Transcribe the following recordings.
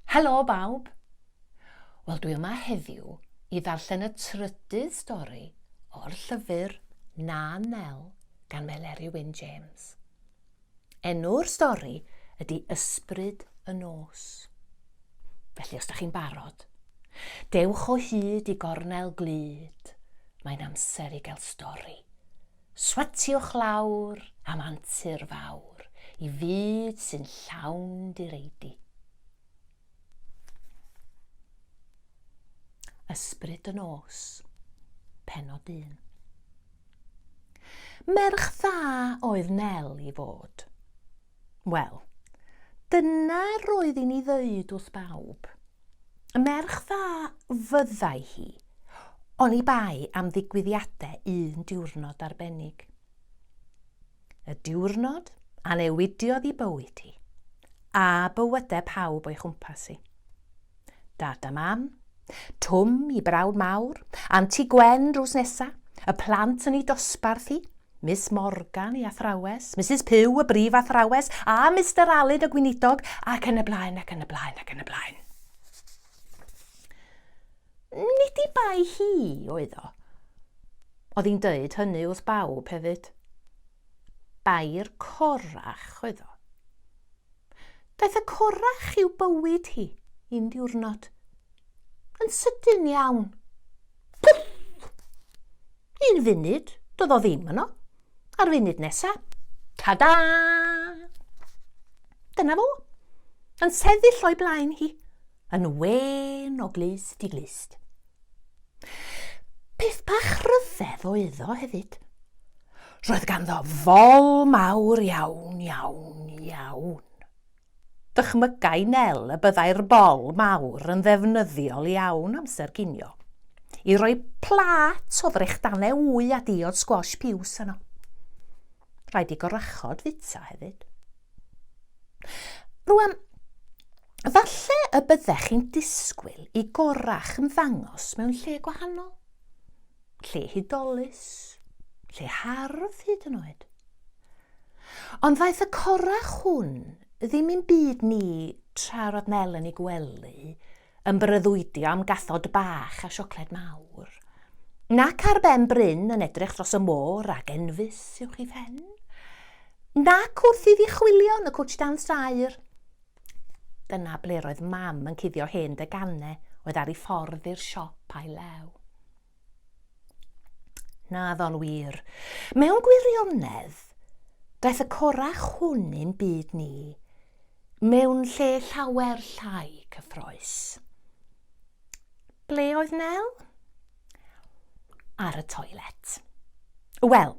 Helo bawb! Wel dwi yma heddiw i ddarllen y trydydd stori o'r llyfr Na Nel gan Meleri Wyn James. Enw'r stori ydy Ysbryd y Nos. Felly os da chi'n barod, dewch o hyd i gornel glyd, mae'n amser i gael stori. Swatiwch lawr am antur fawr i fyd sy'n llawn direidi. Ysbryd y Nos, Pennod 1. Merch dda oedd Nel i fod. Wel, dyna roedd i'n ei ddeud wrth bawb. Y merch dda fyddai hi, oni bai am ddigwyddiadau un diwrnod arbennig. Y diwrnod a newidiodd i bywyd hi, a bywydau pawb o'i chwmpas hi. Dad a Mam, Twm i brawd mawr, Anti Gwen drws nesa, y plant yn ei dosbarth hi, Miss Morgan ei athrawes, Misus Puw y brif athrawes, a Mister Aled y gweinidog, ac yn y blaen ac yn y blaen ac yn y blaen. Nid i bai hi oedd o. Oedd hi'n dweud hynny wrth bawb hefyd. Bai'r corach oedd o. Daeth y corach i'w bywyd hi un diwrnod. Yn sydyn iawn. Pwff! Un funud, doedd o ddim yno. A'r funud nesa, ta-da! Dyna fo, yn sefyll o'i blaen hi, yn wen o glust i glust. Peth bach rhyfedd oedd o hefyd. Roedd ganddo fol mawr iawn, iawn, iawn. Dychmygai Nel y byddai'r bol mawr yn ddefnyddiol iawn amser ginio, i roi plât o ddrechdannau wy a diod sgwash piws yno. Rhaid i gorachod fita hefyd. Rwan, Falle y byddech chi'n disgwyl i gorach ymddangos mewn lle gwahanol, lle hudolus, lle hardd hyd yn oed. Ond ddaeth y corach hwn ddim i'n byd ni tra roedd Nel yn ei gwely, yn breuddwydio am gathod bach a siocled mawr, nac ar ben bryn yn edrych dros y môr ag enfys i'w chi phen, nac wrth iddi chwilio yn y cwtsh dan straer, Dyna ble roedd mam yn cuddio hen deganau oedd ar ei ffordd i'r siop a'i lew. Na ddol wir. Mewn gwirionedd, daeth y corach hwn i'n byd ni mewn lle llawer llai cyffroes. Ble oedd Nel? ar y toilet. Wel,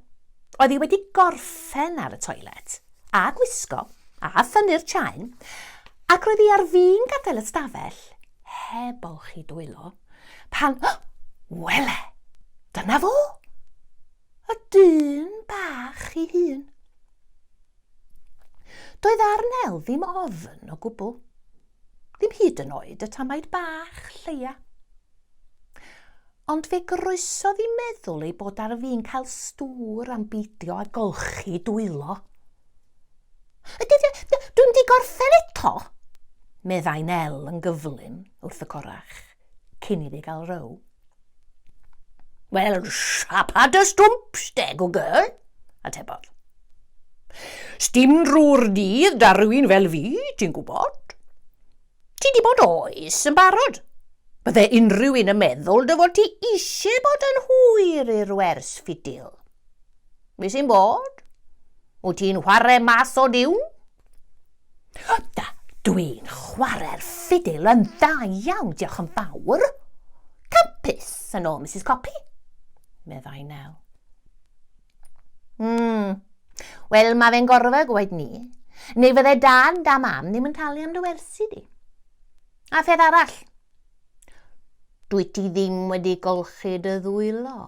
oedd hi wedi gorffen ar y toilet, a gwisgo, a thynnu'r chain, ac roedd hi ar fin gadael y stafell, heb olchi dwylo, pan, oh, wele, dyna fo! Y dyn bach ei hun. Doedd ar Nel ddim ofn o gwbl. Ddim hyd yn oed y tamaid bach lleia. Ond fe groesodd i meddwl ei bod ar fin cael stŵr am beidio â golchi dwylo. Dwi'n di gorffen eto, meddai Nel yn gyflym wrth y corach. cyn iddi gael row. Wel, siapa dy stwmp, steg o girl, atebodd. Sdim drwy'r dydd da rhywun fel fi, ti'n gwybod? Ti di bod oes yn barod. Bydde unrhyw un yn meddwl dy fod ti eisiau bod yn hwyr i'r wers ffidil. Mi sy'n bod? Wyt ti'n chwarae mas o diwn? Da, dwi'n chwarae'r ffidil yn dda iawn, diolch yn fawr. Campus, yn ôl Mrs Copi, meddai Nel. Mm. Wel, mae fe'n gorfa gwaed ni. Neu fydde dan da mam ddim yn talu am dy wersi di. A pheth arall, dwi ti ddim wedi golchi dy ddwylo.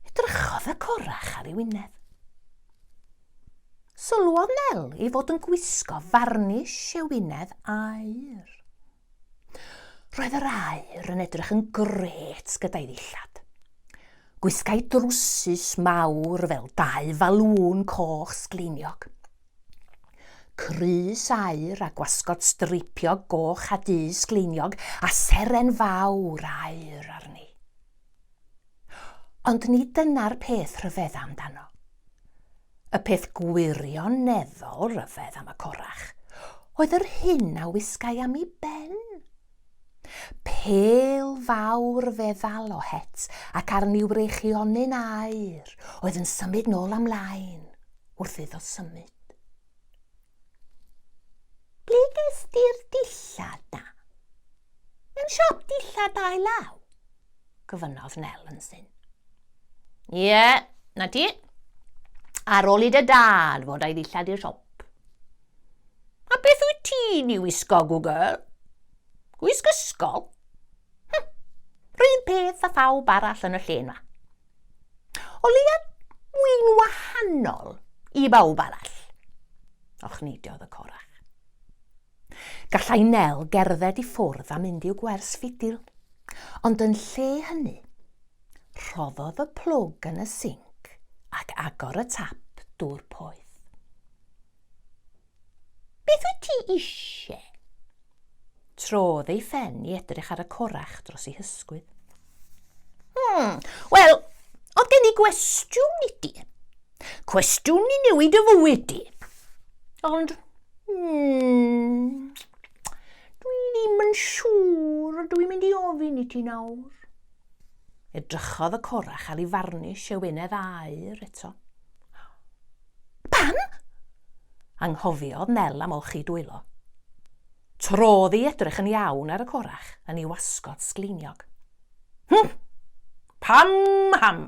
Edrychodd y corach ar ei wyneb. Sylwodd Nel ei fod yn gwisgo farnish ewinedd aur. Roedd yr aur yn edrych yn gret gyda'i ddillad. Gwisgai drwsus mawr fel dau falŵn coch sgleiniog. Crys aur a gwasgod streipiog goch a du sgleiniog a seren fawr aur arni. Ond nid dyna'r peth rhyfedda amdano. Y peth gwirioneddol ryfedd am y corach oedd yr hyn a wisgai am i ben Pêl fawr fe ddalo het ac arni wreichionyn aer oedd yn symud nôl a mlaen wrth iddo symud. Ble ges di'r dillad na? Mewn siop dillad ail law? gofynnodd Nel yn syn. Ie, yeah, na ti. Ar ôl i dy dad fod a'i ddillad i'r siop. A beth wyt ti'n ei wisgo, Google? Gwisg ysgol? Hm, rhywun peth a phawb arall yn y lle yma. O leia mwy'n wahanol i bawb arall. Och neidiodd y corach. Gallai Nel gerdded i ffwrdd a mynd i'w gwers fidil, ond yn lle hynny, rhoddodd y plwg yn y sinc ac agor y tap dŵr poeth. Beth wyt ti eisiau? Trodd ei phen i edrych ar y corach dros ei hysgwydd. Hmm, wel, oedd gen i gwestiwn i ti. Cwestiwn i newid y fywyd di. Ond, hmm, dwi ddim yn siŵr o dwi'n mynd i ofyn i ti nawr. Edrychodd y corach ar ei farnish e wynedd air eto. Pam? Anghofiodd Nel am olchi dwylo. Trodd i edrych yn iawn ar y corach yn ei wasgod sgleiniog. Hm! Pam ham?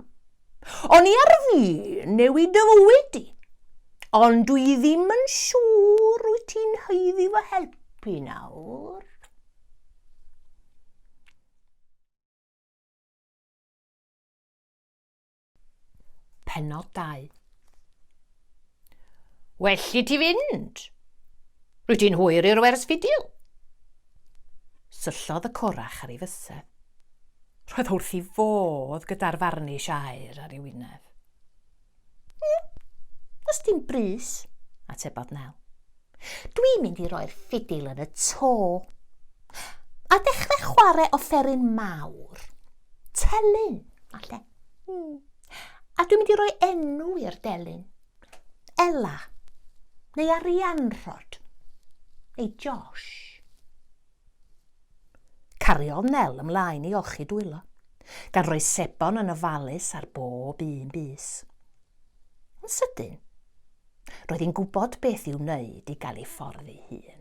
O'n i ar fin newid dy fywyd di. Ond dwi ddim yn siŵr wyt ti'n haeddu fy helpu nawr. Penodau. Well i ti fynd. Rwy ti'n hwyr i'r wers fidil. Syllodd y corach ar ei fysedd. Roedd wrth i fodd gyda'r farnish aer ar ei wyneb. Mm, os dim bris, atebodd Nel. Dwi'n mynd i roi'r ffidil yn y to. A dechrau chwarae offeryn mawr. Telyn, falle. Hmm. A dwi'n mynd i roi enw i'r delyn. Ella. Neu Arianrhod. Neu Josh. Cariodd Nel ymlaen i olchi dwylo, gan roi sebon yn ofalus ar bob un bus. Yn sydyn, roedd hi'n gwybod beth i'w wneud i gael ei ffordd ei hun.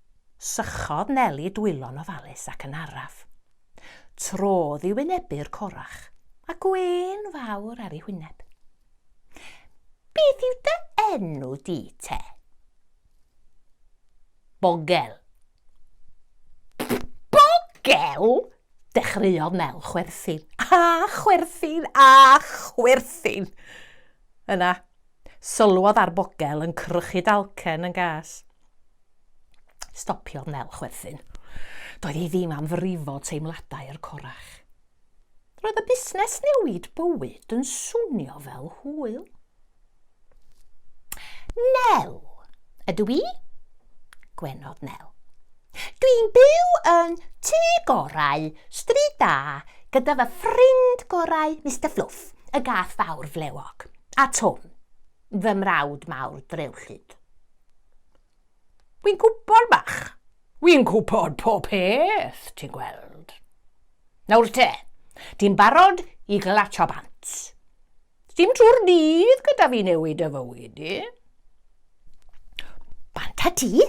Sychodd Neli dwylo'n ofalus ac yn araf. Trodd i wynebu'r corach, a gwên fawr ar ei hwyneb. Beth yw dy enw di te? Bogel. Bogel? Dechreuodd Nel chwerthin, a chwerthin, a chwerthin. Yna, Sylwodd ar bogel yn crychu dalcen yn gas. Stopiodd Nel chwerthin. Doedd hi ddim am frifo teimladau'r corach. Roedd y busnes newid bywyd yn swnio fel hwyl. Nel, ydw i? Gwenodd Nel. Dwi'n byw yn tŷ gorau, stryd da, gyda fy ffrind gorau, Mister Fluff, y gath fawr flewog. A Twm, fy mrawd mawr drewllyd. Wi'n gwybod, Mach. Wi'n gwybod pob peth, ti'n gweld. Nawr te, ti'n barod i glatio bant. Dim trwy'r dydd gyda fi newid y fywyd i. Bant a ti?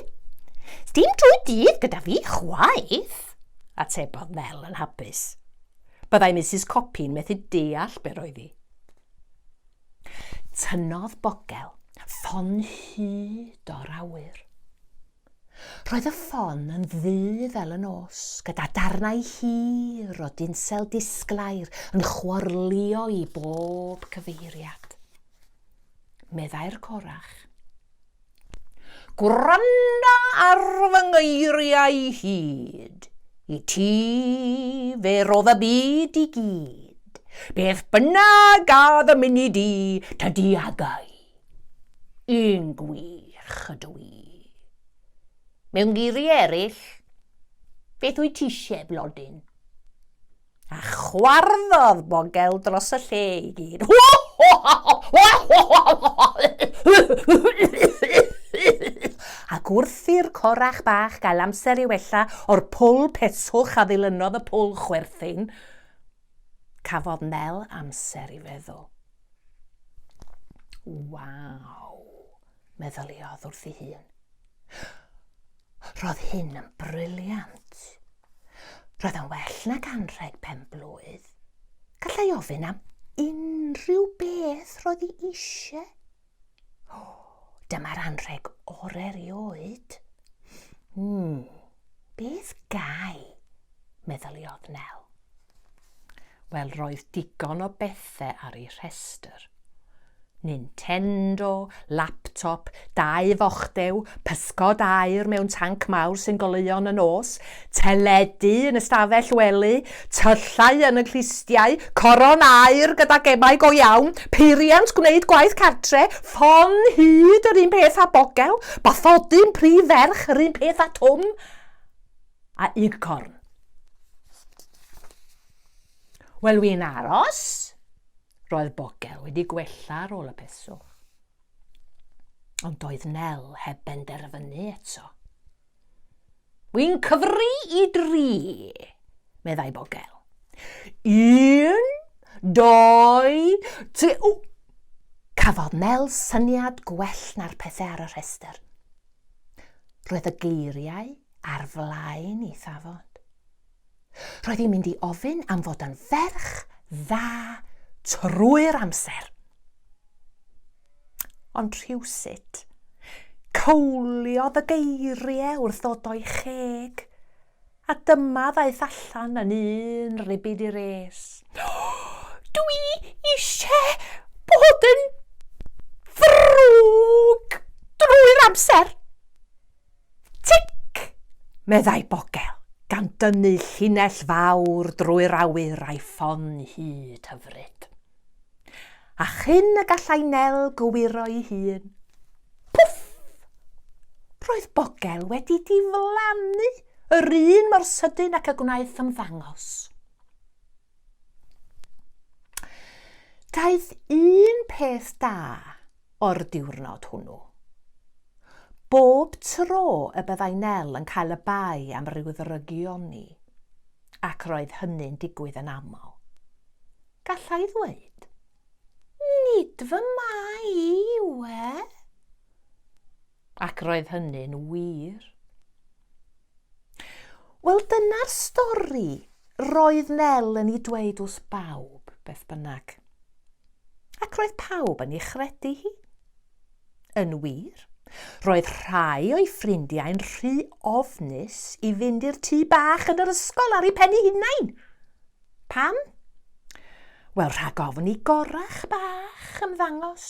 Dim trwy'r dydd gyda fi chwaith, atebodd Mel yn hapus. Byddai Mrs Copi'n methu deall be roedd hi. Tynnodd bogel ffon hyd o'r awyr. Roedd y ffon yn ddu fel y nos, gyda darnau hir o dinsel disglair yn chwarlio i bob cyfeiriad. Meddai'r corach. Gwranda ar fy ngeiriau hyd. I ti fe rodd y byd i gyd. Beth bynnag a ddymunid di, tydi agau. Yn gwych ydw i. Mewn geiriau eraill, beth wyt ti eisiau, blodyn? A chwarddodd bogel dros y lle i gyd. Ac wrth i'r corach bach gael amser i wella o'r pwl peswch a ddilynodd y pwl chwerthin, cafodd Nel amser i feddwl. Waw, meddyliodd wrth ei hun. Roedd hyn yn briliant. Roedd yn well nag anrheg pen-blwydd. Gallai ofyn am unrhyw beth roedd hi eisiau. Dyma'r anrheg o'r erioed. Hmm, beth gai? meddyliodd Nel. Wel, roedd digon o bethe ar ei rhestr. Nintendo, laptop, dau fochdew, pysgod aur mewn tanc mawr sy'n goleuo yn y nos, teledu yn y stafell wely, tyllau yn y clustiau, coron aur gyda gemau go iawn, peiriant gwneud gwaith cartre, ffon hud yr un peth â Bogel, bathodyn prif ferch yr un peth â Twm, a Ugcorn. Wel, wi'n aros. Roedd Bogel wedi gwella ar ôl y peswch. Ond doedd Nel heb benderfynu eto. Wi'n cyfri i dri, meddai Bogel. Un, doi, tri... O! Cafodd Nel syniad gwell na'r pethau ar y rhestr. Roedd y geiriau ar flaen ei thafod. Roedd hi'n mynd i ofyn am fod yn ferch dda trwy'r amser. Ond rhywsut, cawliodd y geiriau wrth ddod o'i cheg, a dyma ddaeth allan yn un ribid i res. Dw i eisiau bod yn ddrwg drwy'r amser! Tsic! meddai Bogel, gan dynnu llinell fawr drwy'r awyr a'i ffon hyd hyfryd. A chyn y gallai Nel gywiro'i hun, pwff! Roedd Bogel wedi diflannu yr un mor sydyn ac y gwnaeth ymddangos. Daeth un peth da o'r diwrnod hwnnw. Bob tro y byddai Nel yn cael y bai am ryw ddrygion ni, ac roedd hynny'n digwydd yn aml, gallai ddweud, Nid fy mai i yw e? Ac roedd hynny'n wir. Wel, dyna'r stori roedd Nel yn ei dweud wrth bawb, beth bynnag. Ac roedd pawb yn ei chredu hi. Yn wir, roedd rhai o'i ffrindiau'n rhy ofnus i fynd i'r tŷ bach yn yr ysgol ar ei pen ei hunain. Pam? Wel, rhag ofn i gorach bach ymddangos.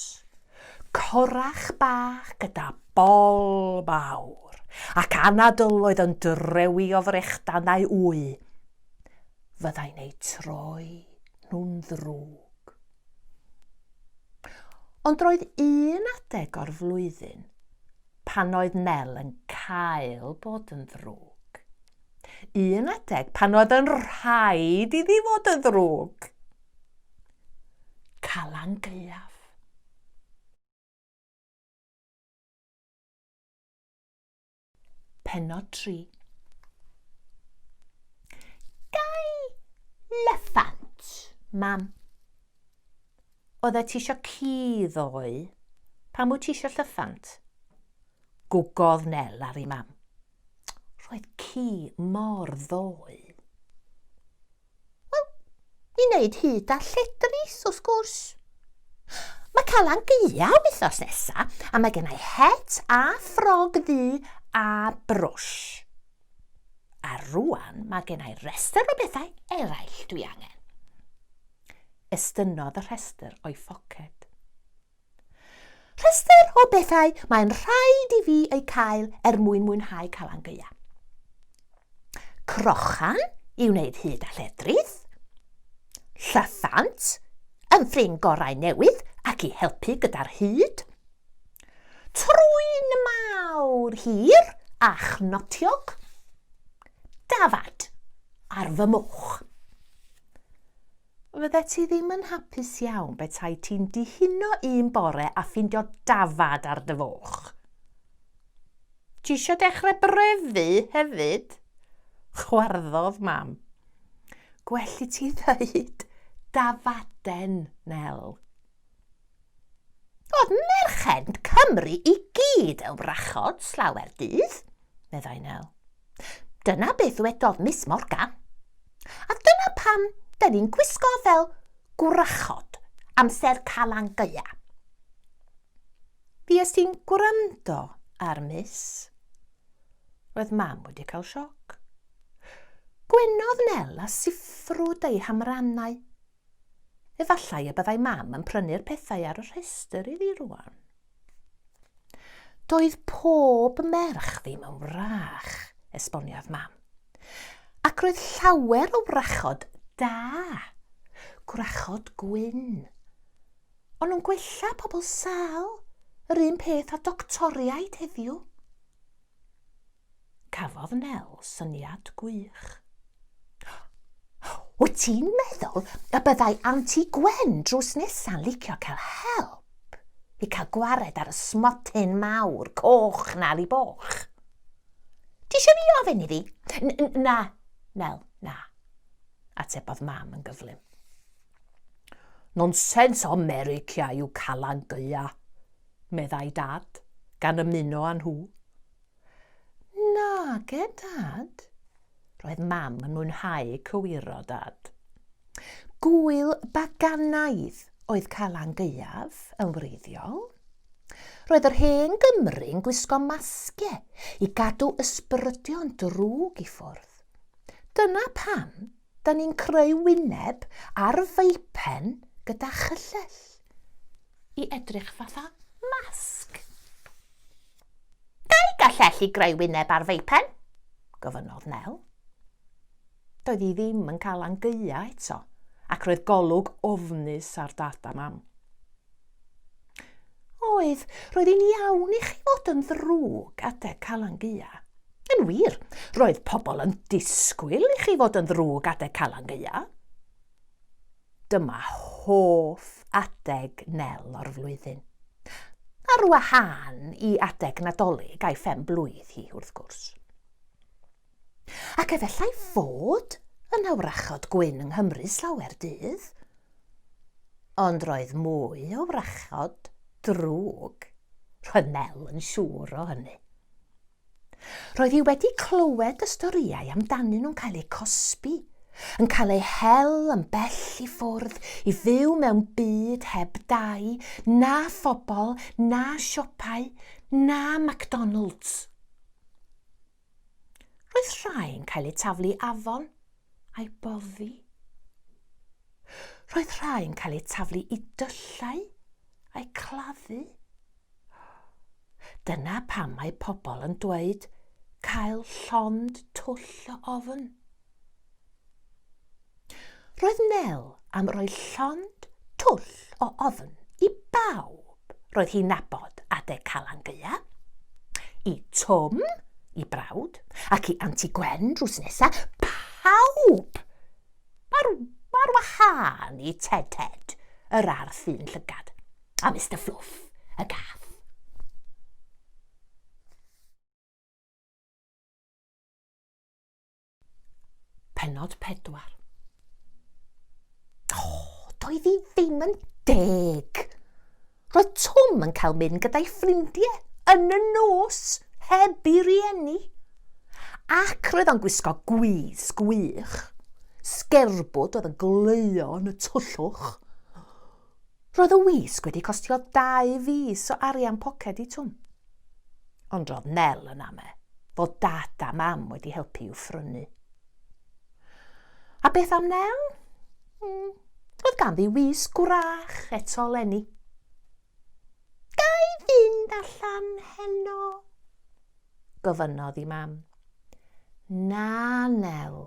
Corach bach gyda bol mawr ac anadl oedd yn drewi o frechdan neu wy. Fyddai'n eu troi nhw'n ddrwg. Ond roedd un adeg o'r flwyddyn pan oedd Nel yn cael bod yn ddrwg. Un adeg pan oedd yn rhaid iddi fod yn ddrwg. Calan Gaeaf. Penod 3 Gai lyffant, mam? Oeddet ti eisiau ci ddoe? Pam wyt ti eisiau llyffant? Gwgodd Nel ar ei mam. Roedd ci mor ddoe. Wel, i wneud hyd a lledrith, wrth gwrs. Mae Calan Gaeaf wythnos nesa, a mae gennau het a ffrog ddu a brwsh. A rwan mae gennau rhestr o bethau eraill dwi angen. Estynnodd y rhestr o'i phoced. Rhestr o bethau mae'n rhaid i fi eu cael er mwyn mwynhau Calan Gaea. Crochan i wneud hud a lledrith. Llyffant, yn ffrind gorau newydd ac i helpu gyda'r hud. Trwyn mawr hir a chnotiog. Dafad ar fy moch. Fyddet ti ddim yn hapus iawn betai ti'n dihuno un bore a ffindio dafad ar dy foch. Ti eisiau dechrau brefu hefyd? Chwarddodd mam. Gwell i ti ddeud dafaden, Nel. Oedd merchend Cymru i gyd yn wrachod slawer dydd, meddai Nel. Dyna beth ddwedodd Miss Morgan. A dyna pam da ni'n gwisgo fel gwrachod amser Calan Gaea. Fues ti'n gwrando ar Miss? Roedd mam wedi cael sioc. Gwenodd Nel a siffrwd ei hamrannau Efallai y byddai Mam yn prynu'r pethau ar y rhestr i fi rwan. Doedd pob merch ddim yn wrach, esboniodd Mam. Ac roedd llawer o wrachod da. Gwrachod gwyn. Ond nhw'n gwella pobl sâl, yr un peth â doctoriaid heddiw. Cafodd Nel syniad gwych. Wyt ti'n meddwl y byddai Anti Gwen drws nesa'n licio cael help i cael gwared ar y smotyn mawr coch na ar ei boch? Ti eisiau fi ofyn iddi? Na, Nel, na, atebodd Mam yn gyflym. Nonsens o America yw Calan Gaea, meddai Dad, gan ymuno â nhw. Nage, Dad. Roedd Mam yn mwynhau cywiro Dad. Gŵyl baganaidd oedd Calan Gaeaf yn wreiddiol. Roedd yr hen Gymry yn gwisgo masge i gadw ysbrydion drwg i ffwrdd. Dyna pam da ni'n creu wyneb ar feipen gyda chyllell i edrych fatha masg. Ga i galleshi greu wyneb ar feipen? gofynnodd Nel. Doedd hi ddim yn cael angeua eto, ac roedd golwg ofnus ar Dad a Mam. Oedd, roedd hi'n iawn i chi fod yn ddrwg adeg Calan Gaeaf. Yn wir, roedd pobl yn disgwyl i chi fod yn ddrwg adeg Calan Gaeaf. Dyma hoff adeg Nel o'r flwyddyn. Ar wahân i adeg Nadolig a'i phen-blwydd hi, wrth gwrs. Ac efallai fod yna wrachod gwyn yng Nghymru slawer dydd. Ond roedd mwy o wrachod drwg, roedd Nel yn siŵr o hynny. Roedd hi wedi clywed y storïau amdanyn nhw'n cael eu cosbi, yn cael eu hel yn bell i ffwrdd i fyw mewn byd heb dai, na phobl, na siopau, na McDonalds. Roedd rhai'n cael eu taflu i afon a'i boddi. Roedd rhai'n cael eu taflu i dyllau a'i claddu. Dyna pam mae pobl yn dweud cael llond twll o ofn. Roedd Nel am roi llond twll o ofn i bawb roedd hi'n nabod adeg Calan Gaea, i Twm, i brawd, ac i Anti Gwen drws nesa, pawb! Ar, ar wahân i Ted Ted, yr arth un llygad. A Mister Fluff, y gath. Penod 4 doedd hi ddim yn deg. Roedd Twm yn cael mynd gyda'i ffrindiau yn y nos heb i rieni. Ac roedd o'n gwisgo gwydd sgwych. Sgerbwd oedd yn gleuo yn y twllwch. Roedd y wisg wedi costio dau fis o arian poced i Twm. Ond roedd Nel yn ame fod Dad a Mam wedi helpu i'w phrynu. A beth am Nel? Mm, oedd ganddi wisg gwrach eto lenni. Gai fynd allan heno? gofynnodd i Mam. Na, Nel,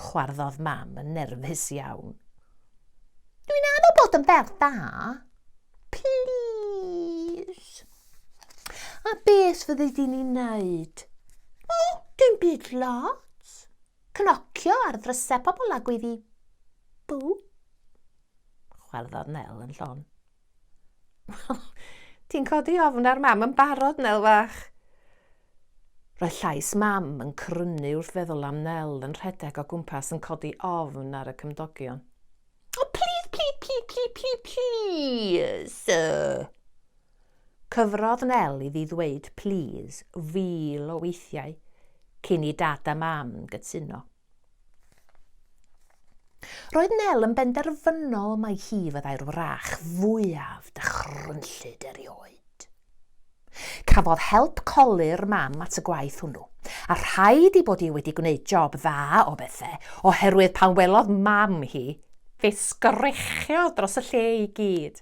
chwarddodd Mam yn nerfus iawn. Dwi'n anodd bod yn ferch dda. Plis. A beth fyddi di ni wneud? O, dim byd lot. Cnocio ar ddrysau pobl a gwyddi. Bw. Chwarddodd Nel yn llon. Wel, ti'n codi ofn ar mam yn barod, Nel fach. Roedd llais mam yn crynu wrth feddwl am Nel yn rhedeg o gwmpas yn codi ofn ar y cymdogion. O, oh, plîs, plîs, plîs, plîs, plîs, plîs! Cyfrodd Nel iddi ddweud plîs fil o weithiau cyn i dad a mam gytuno. Roedd Nel yn benderfynol mai hi fyddai'r wrach fwyaf dychrynllyd erioed. Cafodd help colur Mam at y gwaith hwnnw, a rhaid i bod hi wedi gwneud job dda o bethe, oherwydd pan welodd Mam hi, fe sgrechiod dros y lle i gyd.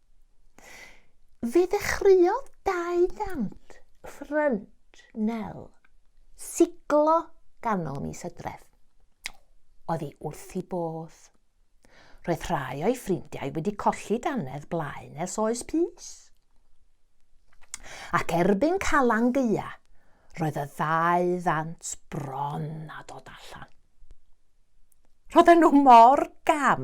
Fe ddechreuodd dau gant ffrynt Nel siglo ganol mis Hydref. Oedd hi wrth i bodd. Roedd rhai o'i ffrindiau wedi colli danedd blaen ers oes pys. Ac erbyn Calan Gaea, roedd y ddau ddant bron a dod allan. Roedden nhw mor gam,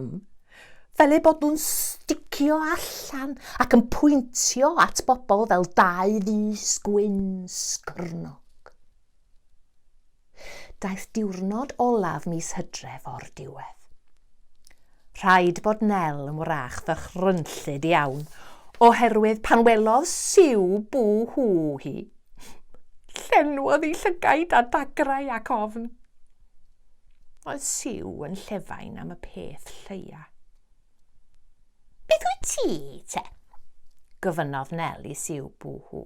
fel eu bod nhw'n sticio allan ac yn pwyntio at bobl fel dau fus gwyn sgwrnog. Daeth diwrnod olaf mis hydref o'r diwedd. Rhaid bod Nel yn wrach ddychrynllyd iawn, oherwydd pan welodd siw bw hw hi, llenwodd ei llygaid â dagrau ac ofn. Oedd Siw yn llefain am y peth lleia. Beth wyt ti, te? gofynnodd Nel i Siw bw hw.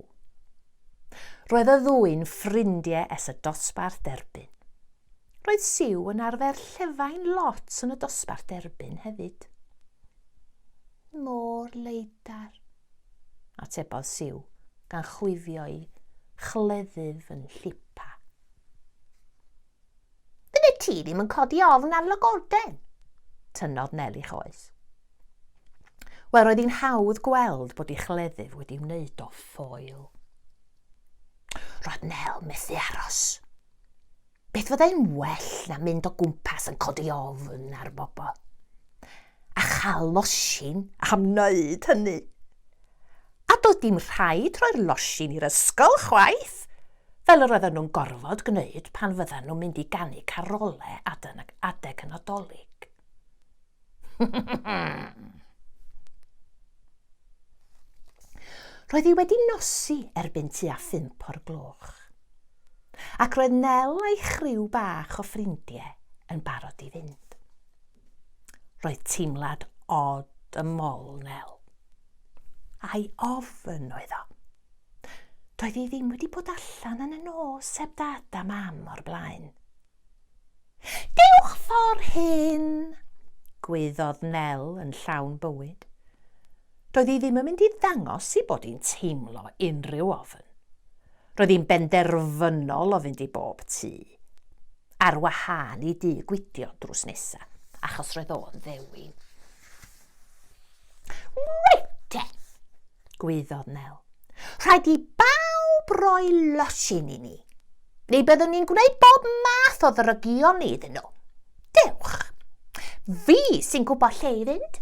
Roedd y ddwy'n ffrindiau es y dosbarth derbyn. Roedd Siw yn arfer llefain lot yn y dosbarth derbyn hefyd. Mor leidar, atebodd Siw, gan chwifio'i chleddyf yn llipa. Fyddet ti ddim yn codi ofn ar lygoden? Tynnodd Nel i choes. Wel, roedd hi'n hawdd gweld bod ei chleddyf wedi wneud o ffoil. Roedd Nel methu aros. Beth fyddai'n well na mynd o gwmpas yn codi ofn ar bobl? a chael losin am wneud hynny. A doedd dim rhaid rhoi'r losin i'r ysgol chwaith, fel yr oedden nhw'n gorfod gwneud pan fyddan nhw'n mynd i ganu carole adeg y Nadolig. Roedd hi wedi nosi erbyn tua phump o'r gloch, ac roedd Nel a'i chriw bach o ffrindiau yn barod i fynd. Roedd teimlad od ym mol Nel. Ai ofn oedd o? Doedd hi ddim wedi bod allan yn y nos heb dad a mam o'r blaen. Dewch ffordd hyn! Gwyddodd Nel yn llawn bywyd. Doedd hi ddim yn mynd i ddangos i bod hi'n teimlo unrhyw ofn. Roedd hi'n benderfynol o fynd i bob tŷ, ar wahân i dŷ Gwydion drws nesa, achos roedd o'n ddewin. Wete! gwaeddodd Nel. Rhaid i bawb roi losin i ni, neu byddwn ni'n gwneud bob math o ddrygion ni iddyn nhw. Dewch! Fi sy'n gwybod lle i fynd.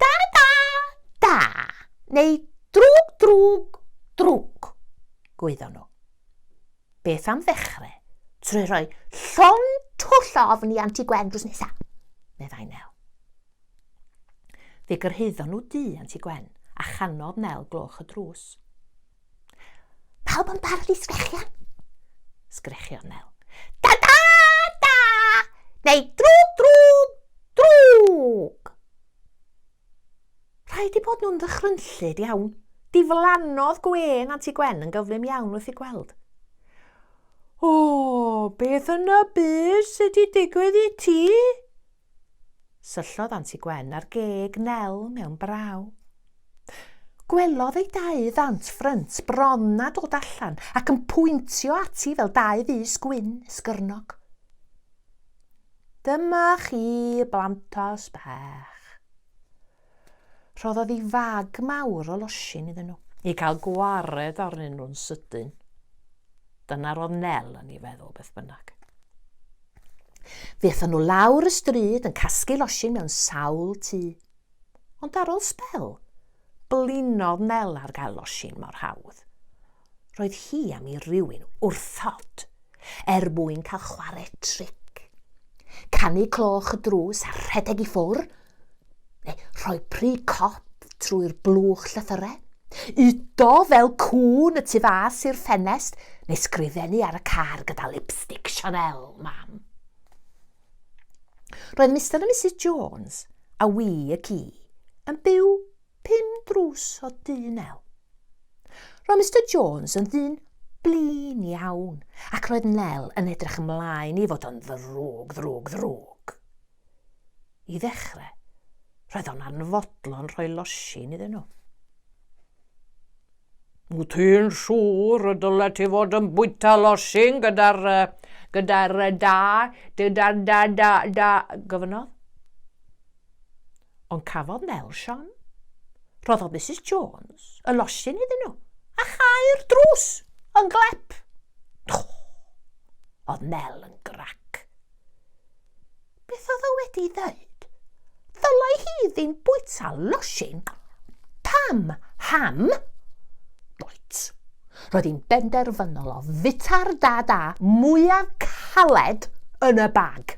Da da da neu drwg drwg drwg, gwyddon nhw. Beth am ddechrau trwy rhoi llon twll o ofn i Anti Gwen drws nesa, meddai Nel. Fe gyrhaeddon nhw du Anti Gwen a chanodd Nel gloch y drws. Pawb yn barod i sgrechian? Sgrechion Nel. Da da da! Neu drwg drwg drwg! Rhaid i bod nhw'n ddychrynllyd iawn. Diflannodd Gwen Anti Gwen yn gyflym iawn wrth ei gweld. O, beth yn y byd sydd wedi digwydd i ti? Syllodd Anti Gwen ar geg Nel mewn braw. Gwelodd ei dau ddant ffrynt bron na dod allan ac yn pwyntio ati fel dau fys gwyn esgyrnog. Dyma chi, blantos bach. Rhoddodd i fag mawr o losin iddyn nhw. I gael gwared arnyn nhw'n sydyn. Dyna roedd Nel yn ei feddwl beth bynnag. Fe athon nhw lawr y stryd yn casglu losin mewn sawl tŷ. Ond ar ôl sbel, blinodd Nel ar gael losin mor hawdd. Roedd hi am i rywun wrthod er mwyn cael chwarae tric. Canu cloch y drws a rhedeg i ffwr, neu rhoi pry cop trwy'r blwch llythyrau, udo fel cŵn y tu fas i'r ffenest, neu sgrifennu ar y car gyda lipstick Chanel, mam. Roedd Mister a Misus Jones a wi y ci yn byw Pum drws o du nel. Roedd Mister Jones yn ddyn blin iawn, ac roedd Nel yn edrych ymlaen i fod o'n ddrwg, ddrwg, ddrwg. I ddechrau, roedd o'n anfodlon rhoi losin iddyn nhw. Wyt ti'n siŵr y dyle ti fod yn bwyta losin gyda'r uh, gyda'r da, gyda'r da, da, da, gofynnodd? Ond cafodd Nel Siom. Rhoddodd Misus Jones y losin iddyn nhw, a chau'r drws yn glep. Oedd Nel yn grac. Beth oedd o wedi ddweud? Ddylai hi ddim bwyta losin. Pam? Ham? Roet. Roedd hi'n benderfynol o fita'r dad a mwyaf caled yn y bag.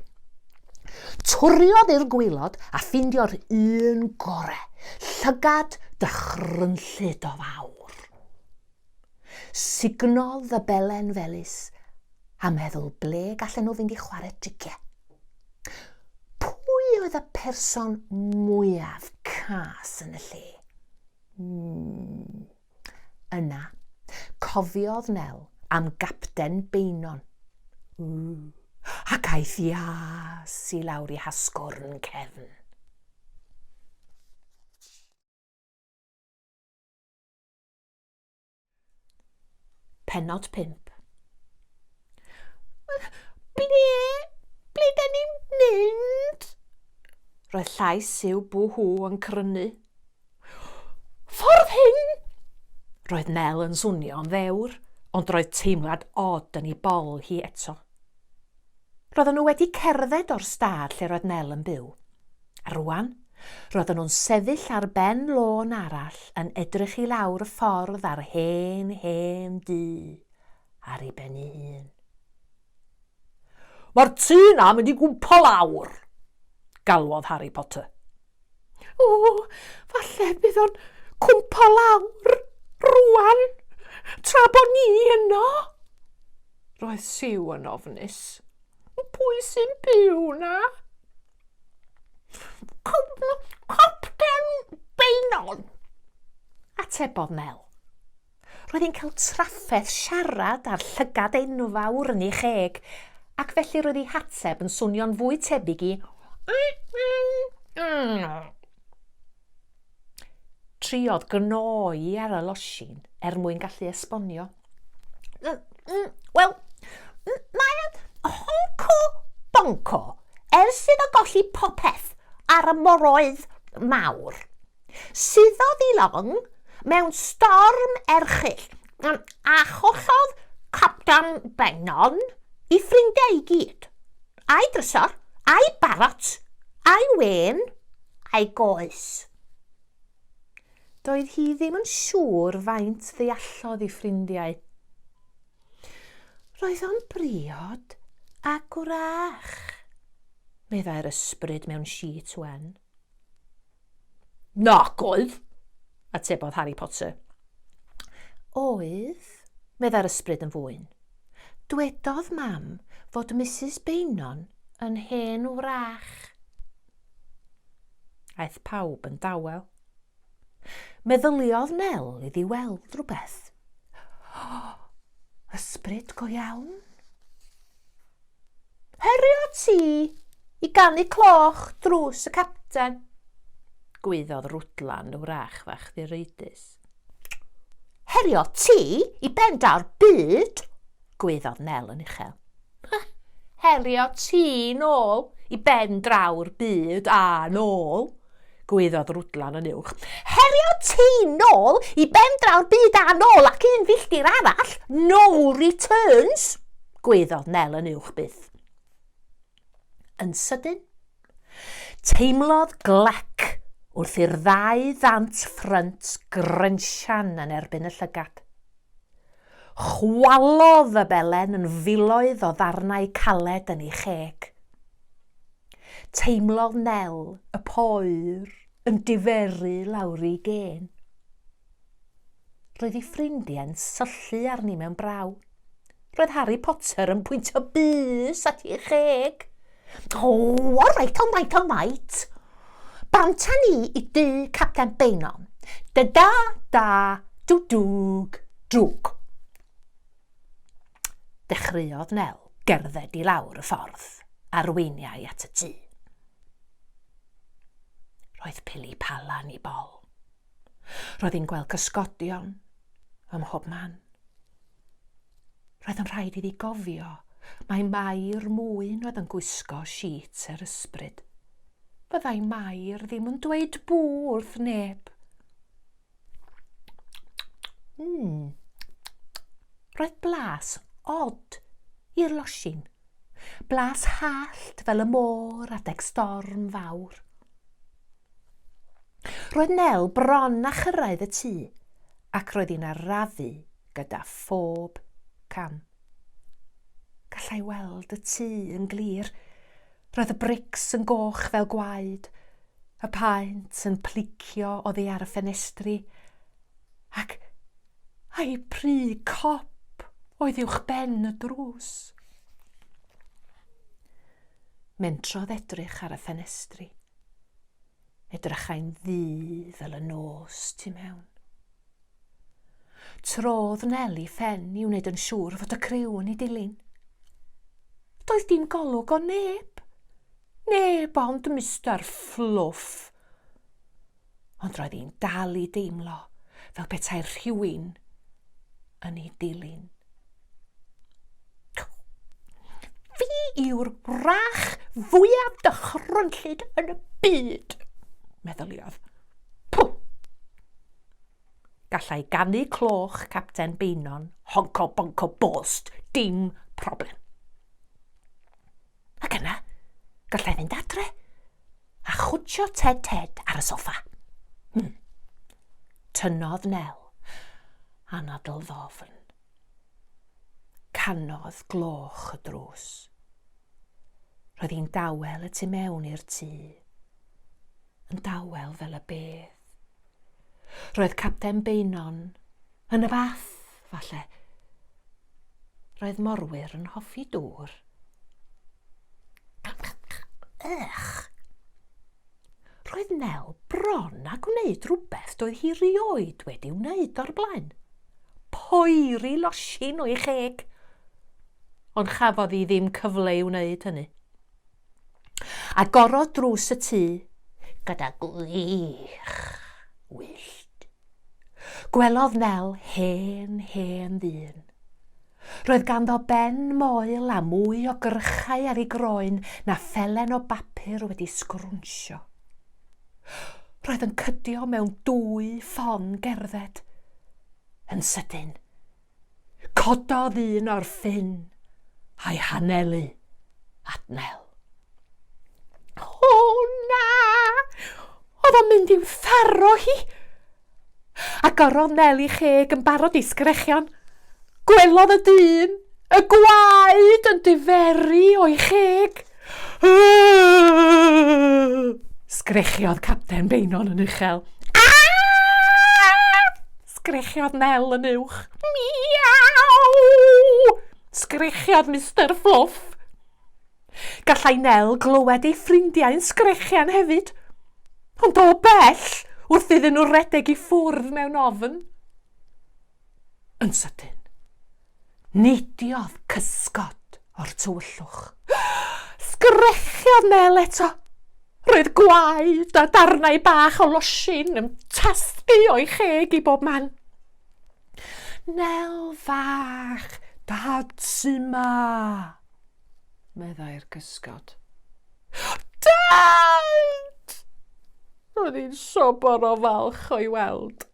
Twriodd i'r gwaelod a ffeindio'r un gore, llygad dychrynllyd o fawr. Sugnodd y belen felys a meddwl ble gallen nhw fynd i chwarae tricie. Pwy oedd y person mwyaf cas yn y lle? Mm. Yna, cofiodd Nel am Gapten Beynon. Ww, ac aeth ias i lawr i hasgwrn cefn. Penod 5 Ble, ble da ni'n mynd? Roedd llais Siw Bwhw yn crynu. Ffordd hyn! Roedd Mel yn swnio'n ddewr, ond roedd teimlad od yn ei bol hi eto. Roedden nhw wedi cerdded o'r stad lle roedd Mel yn byw. A rwan, roedden nhw'n sefyll ar ben lôn arall yn edrych i lawr y ffordd ar hen, hen dŷ ar ei ben ei hun. Mae'r tŷ 'na mynd i gwmpo lawr! galwodd Harry Potter. O, falle bydd o'n cwmpo lawr rwan, tra bod ni yno. Roedd Siw yn ofnus. Pwy sy'n byw na? Cwpten Beinon, atebodd Mel. Roedd hi'n cael trafferth siarad â'r llygad enfawr yn ei cheg, ac felly roedd ei hateb yn swnio'n fwy tebyg i Triodd gnoi ar y losin er mwyn gallu esbonio. Wel, mae'n honco bonco ers iddo golli popeth ar y moroedd mawr. Suddodd i long mewn storm erchyll a chollodd Capten Beynon i ffrindiau i gyd, a'i drysor, a'i barot, a'i wên, a'i goes. Doedd hi ddim yn siŵr faint ddeallodd i ffrindiau. Roedd o'n briod a gwrach, meddai'r ysbryd mewn sheet wen. Nac oedd! atebodd Harri Potter. Oedd, meddai'r ysbryd yn fwyn. Dwedodd Mam fod Misus Beynon yn hen wrach. Aeth pawb yn dawel. Meddyliodd Nel iddi weld rhywbeth. Ysbryd go iawn? Herio ti i ganu cloch drws y capten? gwaeddodd Rwdlan wrach fach ddireidus. Herio ti i ben daw'r byd? gwaeddodd Nel yn uchel. Herio ti nôl i ben draw'r byd a nôl, gwaeddodd Rwdlan yn uwch. Herio ti nôl i ben draw'r byd a nôl ac un filltir arall, no returns, gwaeddodd Nel yn uwch byth. Yn sydyn, teimlodd glec wrth i'r ddau ddant ffrynt grensian yn erbyn y llygad. Chwalodd y belen yn filoedd o ddarnau caled yn ei cheg. Teimlodd Nel y poer yn diferu lawr'i gên. Roedd ei ffrindiau'n syllu arni mewn braw. Roedd Harry Potter yn pwyntio bys at ei cheg. O, all reit, all reit, all reit. Banta ni i dy Capten Beinon. Da da da, dwdwg, drwg. Dechreuodd Nel gerdded i lawr y ffordd a'r weiniau at y tŷ. Roedd pili palan i bol. Roedd hi'n gweld cysgodion ym mhob man. Roedd yn rhaid iddi gofio mae Mair mwyn oedd yn gwisgo siet yr ysbryd. Fyddai Mair ddim yn dweud bŵ wrth neb. Mm. Roedd blas od i'r losin. Blas hallt fel y môr adeg storm fawr. Roedd Nel bron a chyrraedd y tŷ ac roedd hi'n arafu gyda phob cam. Gallai weld y tŷ yn glir. Roedd y brics yn goch fel gwaed, y paent yn plicio oddi ar y ffenestri, ac a'i pry cop oedd uwch ben y drws. Mentrodd edrych ar y ffenestri. Edrychai'n ddu fel y nos tu mewn. Trodd Nel i ffen i wneud yn siŵr fod y criw yn ei dilyn. Doedd dim golwg o neb. Neb ond Mister Fluff. Ond roedd hi'n dal i deimlo fel petai'r rhywun yn ei dilyn. Fi yw'r wrach fwyaf dychrynllyd yn y byd, meddyliodd. Pw! Gallai ganu cloch Capten Beinon, honco bonco bost, dim problem. Ac yna, gallai fynd adre a chwtio Ted Ted ar y soffa. Hmm. Tynodd Nel, anadl ddofn. Canodd gloch y drws. Roedd hi'n dawel y tu mewn i'r tŷ. Yn dawel fel y bedd. Roedd Capten Beinon yn y fath, falle. Roedd morwyr yn hoffi dŵr. Ych! Roedd Nel bron a gwneud rhywbeth doedd hi rioed wedi wneud o'r blaen. Poeri losin o'i cheg! Ond chafodd hi ddim cyfle i wneud hynny. Agorodd drws y tŷ gyda gwych wyllt. Gwelodd Nel hen, hen ddyn. Roedd ganddo ben moel a mwy o gyrchau ar ei groen na phelen o bapur wedi sgrwnsio. Roedd yn cydio mewn dwy ffon gerdded. Yn sydyn, cododd un o'r ffin a'i hanelu at Nel. O na! Oedd o'n mynd i'w tharo hi! Agorodd Nel i cheg yn barod i sgrechian. Gwelodd y dyn y gwaed yn diferu o'i cheg. Sgrechiodd Capten Beinon yn uchel. Sgrechiodd Nel yn uwch. Miaw! Sgrechiodd Mister Fluff. Gallai Nel glywed ei ffrindiau'n sgrechian hefyd, ond o bell wrth iddyn nhw redeg i ffwrdd mewn ofn. Yn sydyn, neidiodd cysgod o'r tywyllwch. Sgrechiodd Nel eto. Roedd gwaed a darnau bach o losin yn tasgu o'i cheg i bob man. Nel fach, dad sy'n ma. meddai'r cysgod. Dad! Roedd hi'n sobor o falch o'i weld.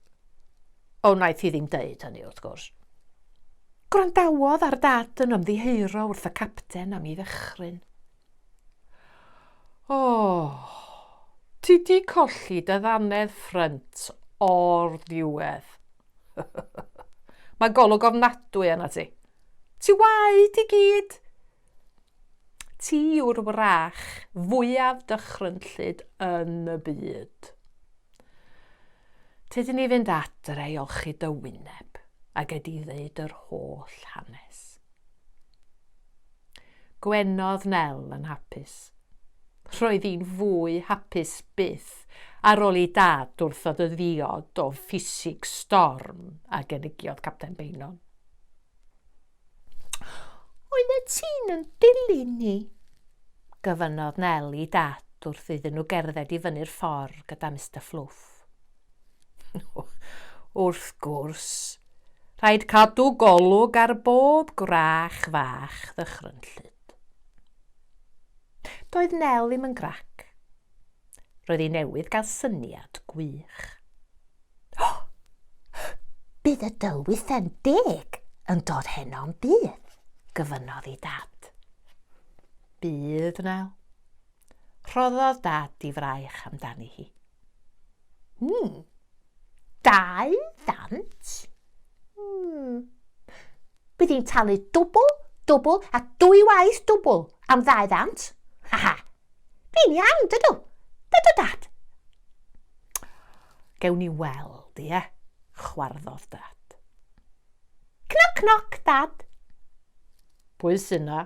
O wnaeth hi ddim deud hynny, wrth gwrs. Gwrandawodd ar dad yn ymddiheuro wrth y capten am ei ddychryn. O, oh, ti di colli dy ddannedd ffrynt o'r ddiwedd. Mae golwg ofnadwy yna ti. Ti waed i gyd! Ti yw'r wrach fwyaf dychrynllyd yn y byd. Tyd i ni fynd adre i olchi dy wyneb a gei di ddeud yr holl hanes. Gwenodd Nel yn hapus. Roedd hi'n fwy hapus byth ar ôl i Dad wrthod y ddiod o ffisig storm a gynigiodd Capten Beynon. Oeddet ti'n yn dilyn ni? gyfynnodd Nel i Dad wrth iddyn nhw gerdded i fyny'r ffordd gyda Mister Fflwff. Wrth gwrs, rhaid cadw golwg ar bob gwrach fach ddychrynllyd. Doedd Nel ddim yn grac. Roedd hi newydd gael syniad gwych. Oh! Bydd y dylwythen deg yn dod heno'n bydd, gyfynodd i dad. Bydd, Nel. Rhoddodd dad i fraich amdani hi. Hmm, dau ddant? Hmm. Bydd hi'n talu dwbl, dwbl a dwy waith dwbl am ddau ddant. Ha ha. Fi'n iawn, dydw. Dydw, dad. Gewn ni weld, ie? Chwarddodd dad. Cnoc, cnoc, dad. Pwy sy'n na?